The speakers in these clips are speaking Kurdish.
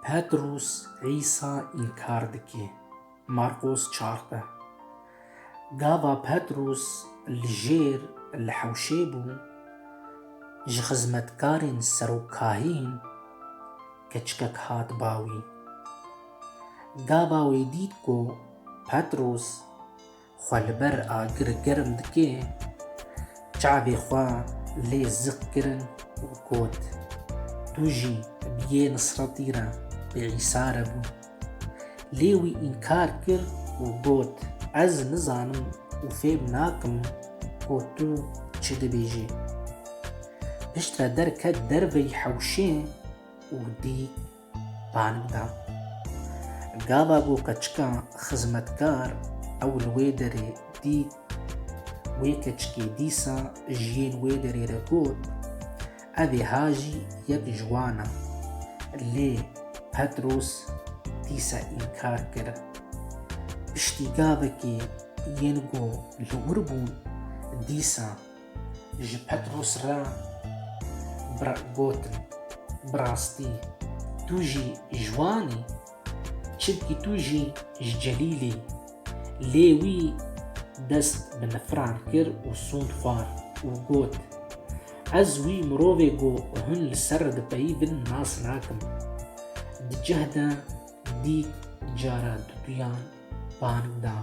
Petrûs Îsa înkar dike. Marqos çardeh. Gava Petrûs li jêr li hewşê bû, ji xizmetkarên serokahîn keçikek hat ba wî. Gava wê dît ku Petrûs Xwe li ber agir germ dike, çavê xwe lê ziq kirin û got, Tu jî bi yê Nisretî re bi Îsa re bû. Lê wî înkar kir û got, Ez nizanim û fêm nakim ku tu çi dibêjî. Piştre derket derveyî hewşê û dît Panim da. Gava ku keçika xizmetkar ew li wê derê dît, wê keçikê dîsa ji yên wê derê re got, Evê ha jî yek ji wan e. Lê Petros dîsa înkar kir. Piştî gavekê yên ku li wir bûn dîsa ji Petrûs re gotin, Bi rastî tu jî ji wan î, çimkî tu jî ji Celîlê î. Lê wî dest bi nifiran kir û sûnd xwar û got, Ez wî mirovê ku hûn li ser dipeyivin nas nakim. Di cih de dît cara duduyan bang da.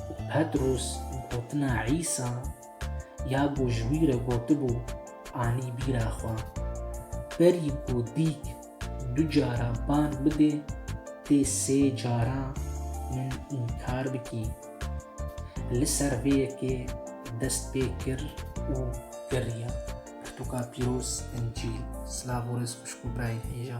Û Petrûs gotina Îsa ya ku ji wî re gotibû anî bîra xwe. Berî ku dîk du cara bang bidê tê sê cara min înkar bikî. Li ser vê yekê dest pê kir û geriya. Pirtûka pîroz, Encîl. Silav û rêz xwişk û birayê hêja.